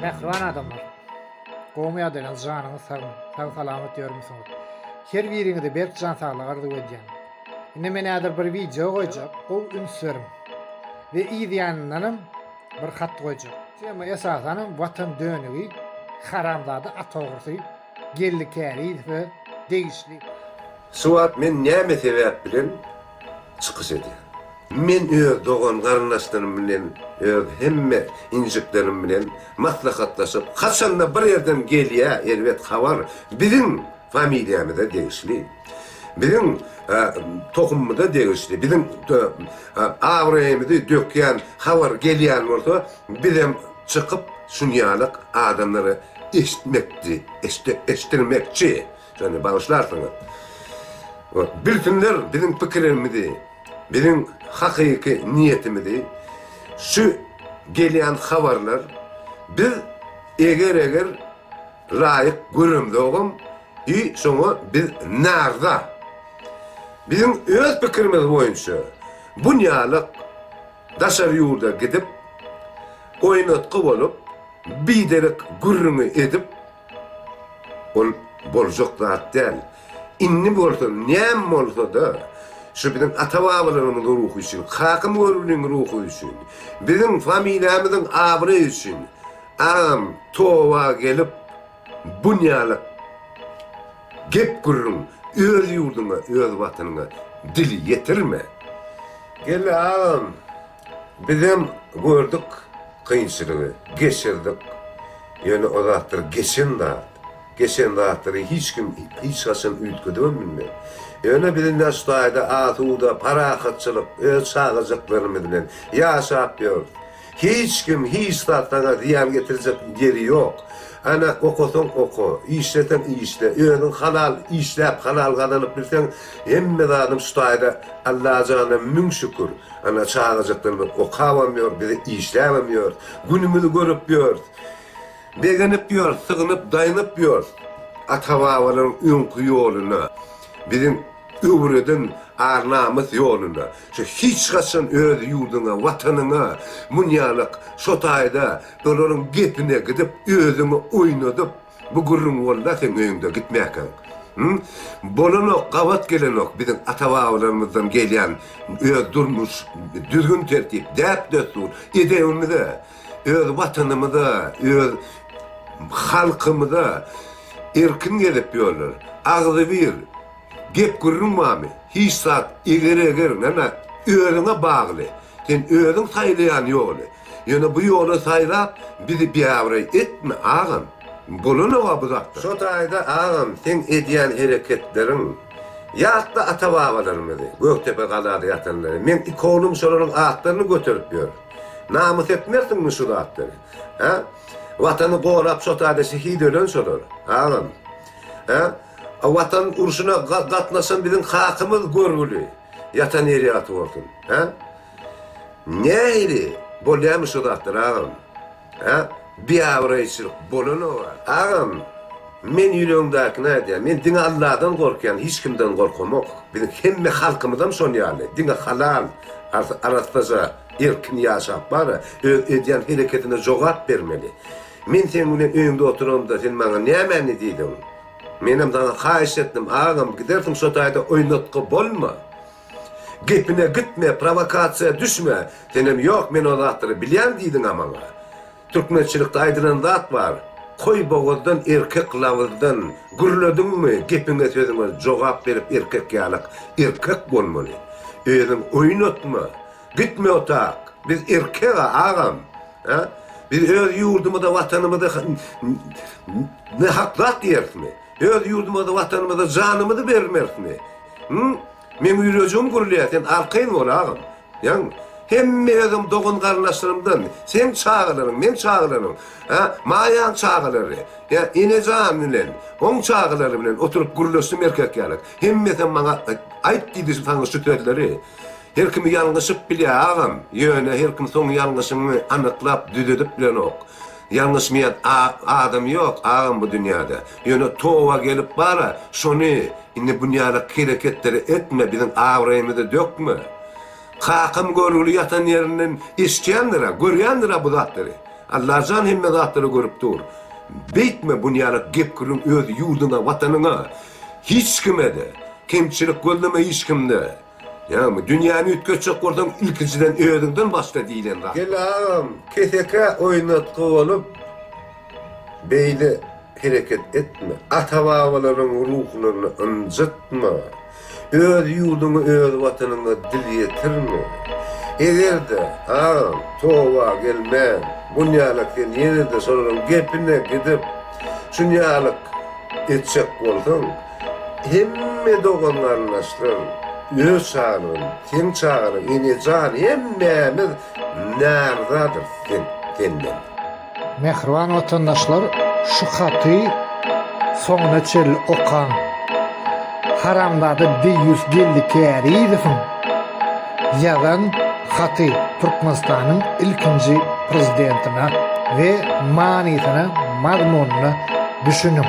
Mähriban adamlar. Gowmy ýagdaýlaryňyz janyňyz sagmy. Sag salamat ýörmüsiňiz. Her biriňize berk jan saglyk arzuw edýän. Indi men häzir bir wideo goýjak gowy üns beriň. We yz ýanyndanam bir hat goýjak. Tema esasanam watan dönügi haramzada at ogrusy Geldi Kärizowa degişli. Şu wagt men näme sebäp bilen çykyş edýär. Men öz dogan-garyndaşlarym bilen, öz hemme injiklerim bilen maslahatlaşyp, haçan-da bir ýerden gelýä erbet habar, biziň familiýamyza degişli, biziň tohumymyza degişli, biziň abraýymyzy dökýän habar gelýän bolsa, bizem çykyp şunýalyk adamlara eşitmekçi, eşitdirmekçi. Şonda bagyşlarsyňyz. Bilsinler biziň pikirimizi, biziň hakyky niýetimizi. Şu gelýän habarlar biz eger-eger laýyk göremzogam, i şoňa biz naryza. Biziň öz pikirimiz boýunça bunýalyk daşary ýurda gidip, oýnatgy bolup, biderek gürrüňi edip, Ol boljak zat däl. Indi bolsa näme bolsa-da, şu biziň ata-babalarymyzyň ruhy üçin, Kakam Göroglyň ruhy üçin, biziň familiýamyzyň abraýy üçin agam toba gelip, bunýalak gep-gürrüň öz ýurduňa, öz Watanyňa dil ýetirme. Geldi agam! Bizem gördük kynçylygy, geçirdik. Ýöne o zatlar geçen zat. Geçen zatlary hiç kim hiç haçan üýtgedibem bilmez. Ýöne biz indi şu taýda asuda, parahatçylyk, öz çagajyklarymyz bilen ýaşap ýörüs. Hiç kim, hiç zat saňa zyýan getirjek ýeri ýok. Ana, okasaň oka, işleseň işle, özüň halal işläp, halal gazanyp bilseň, hemme zadam şu taýda Allajana müň şükür. Ana çagajykdan bir okabam ýok, biz işläbem ýörüs. Günümizi görüp ýörüs. Begenip ýörüs, sygynyp, daýnyp ýörüs ata-babalaryň öňki ýoluna, biziň öwreden ar-namys ýoluna. Şu hiç haçan öz ýurduňa, Watanyňa munýalyk şo taýda olaryň gepine gidip, özüňi oýnadyp, Bu gürrüň bolda seň öýüňde gitmäkäň. Hum. Bolanok gabat gelenok biziň ata babalarymyzdan gelýän öz durmuş düzgün tertip däp dessur edebimize öz watanymyza öz halkymyza erkin gezip ýörler agzybir gep gürrüň barmy hiç zat eger eger nana özüňe bagly. Sen özüň saýlaýan ýoly. Ýöne bu ýoly saýlap, bizi biabraý etme, agam. Bolanok-a bu zatlar. Şo taýda, agam, seň edýän hereketleriň. Ýatla ata-babalarymyzy, Gökdepe galada ýatanlary. Meň iki oglum şolaryň atlaryny göterip ýör. Namys etmersiňmi şu zatlary? Hä? Watany gorap, şo taýda şehit ölen şolar, agam. Hä? Watan urşuna gatnaşan biziň kakamyz görgüli. Ýatan ýeri ýagty bolsun. Hä? Nähili bolýamy şu zatlar agam? Hä? Biabraýçylyk bolanoga. Agam, men ýüregiňdäkini aýdýan. Men diňe Alladan gorkýan, hiç kimden gorkamok. Biziň hemme halkymyzam şon ýaly. Diňe halal, arassaja, erkin ýaşap bara, öz edýän hereketine jogap bermeli. Men seň bilen öýüňde oturamda sen maňa nämäni diýdiň? Menem saňa haýyş etdim agam gidersiň şo taýda oýnatgy bolma. Gepine gitme prowakasiýa düşme senem ýok men o zatlary bilýän diýdiňa maňa. Türkmençilikde aýdylan zat bar Koý bogazdan erkek labyzdan gürlediňmi gepiňe sözüňe jogap berip erkek ýalak erkek bolmaly. Özüň oýnatma. Gitme o tak. Biz erkega agam. Hä? Biz öz ýurdumyza, watanymyza ne hak zat diýerismi? Öz ýurdumyza, watanymyza janymyzy bermerismi? Hü? Meň ýüregim gürleýär, sen arkaýyn bol agam. Ýaňmy? Hemme özüň dogan-garyndaşlaryňdan, seň çagalaryň, meň çagalaryň, hä, Maýaň çagalary, hä, Enejan bilen, oň çagalary bilen oturyp gürleşdim erkek ýaly. Hemmesem maňa aýt diýdi saňa şu sözleri. Her kim ýalňyşyp bilýär agam, ýöne her kim soň ýalňyşyňy anyklap düzedip bilenok. Ýalňyşmaýan adam ýok agam bu dünýäde. Ýöne toba gelip bara şony indi bunýalak hereketleri etme biziň abraýymyzy dökme. Kakam görgüli ýatan ýerinden eşitýändirä, görýändirä bu zatlary. Allajan hemme zatlary görüp dur. Beýtme bunýalak gep-gürrüň öz ýurduňa, watanyňa. Hiç kimede. Kemçilik gözleme hiç kimde. Ýagny, dünýäni üýtgetjek bolsaň, ilkinjiden özüňden başla diýlen zat. Gel agam, kesekä oýnatgy bolup, beýle hereket etme. Ata-babalaryň ruhlaryny ynjytma. Öz ýurduňa, öz Watanyňa dil ýetirme. Eger-de, agam, toba gelmän, bunýalak sen ýene-de şolaryň gepine gidip, şunýalak etjek bolsaň, Hemme dogan-garyndaşlar öz çagalygyn, seň çagalygyň, ene jan hemmämiz närdadyrys sen, senden. Mähriban watandaşlar şu haty soňuna çenli okaň. Haramzada deýýus Geldi Kärizowyň ýazan haty Türkmenistanyň ilkinji prezidentine we manysyna, mazmunyna düşüniň.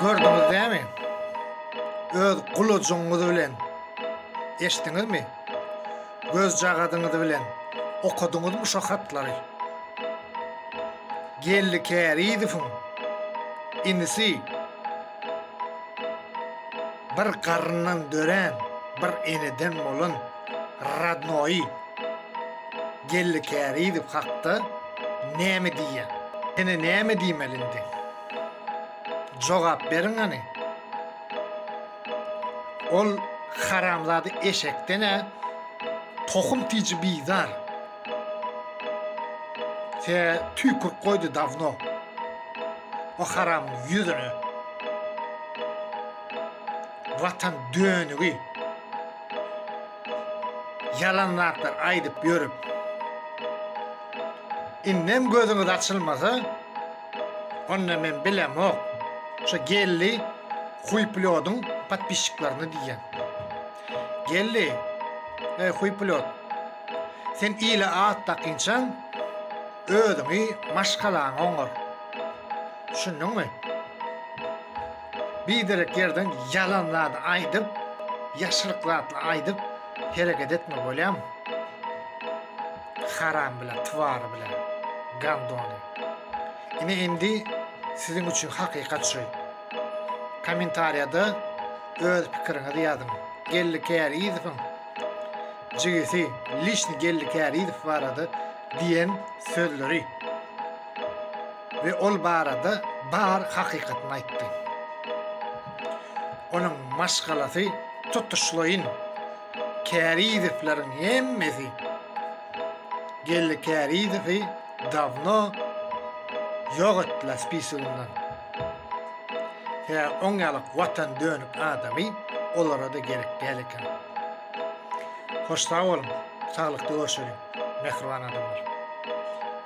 Gördüňiz näme? Öz gulajygyňyz bilen eşdiňizmi? Gözjagazyňyz bilen okadyňyzmy şo hatlary? Geldi Kärizowyň inisi bir garyndan dörän bir eneden bolan Rodnoýy Geldi Kärizow hakda näme diýýäň? Ýene näme diýmeli indi? Jogap beriň hany? Ol haramzada eşekden-ä tohum tiji bizar. Tä tüýkürip goýdy dawno o haramyň ýüzüne. Watan dönügi. Ýalan zatlar aýdyp ýörüp, indem gözüňiz açylmasa, onda men bilemok, şo Gelli huýpilýodyň podpisçiklaryny diýýän. Gelli, eý huýpilýod, sen ile at dakynçaň, özüňi, maşgalaňy oňar. Düşündiňmi? Biderek ýerden ýalan zat aýdyp, ýaşryk zat aýdyp hereket etme bolýamy? Haram bilen twar bilen gandony. Ine indi siziň üçin hakykat şu. Kommentariýada öz pikiriňizi ýazyň. Geldi Kärizowyň jigisi Lişni Geldi Kärizow barada diýen sözleri. we ol barada bar hakykatyny aýtdy. Onuň maşgalasy tutuşlaýyn Kärizewleriň hemmesi Geldi Kärizewi dawno ýok etdiler spisiginden. Hä, oň ýaly watan dönük adamy olara-da gerek däl eken. Hoş sag boluň, saglykda görşeliň, mähriban adamlar!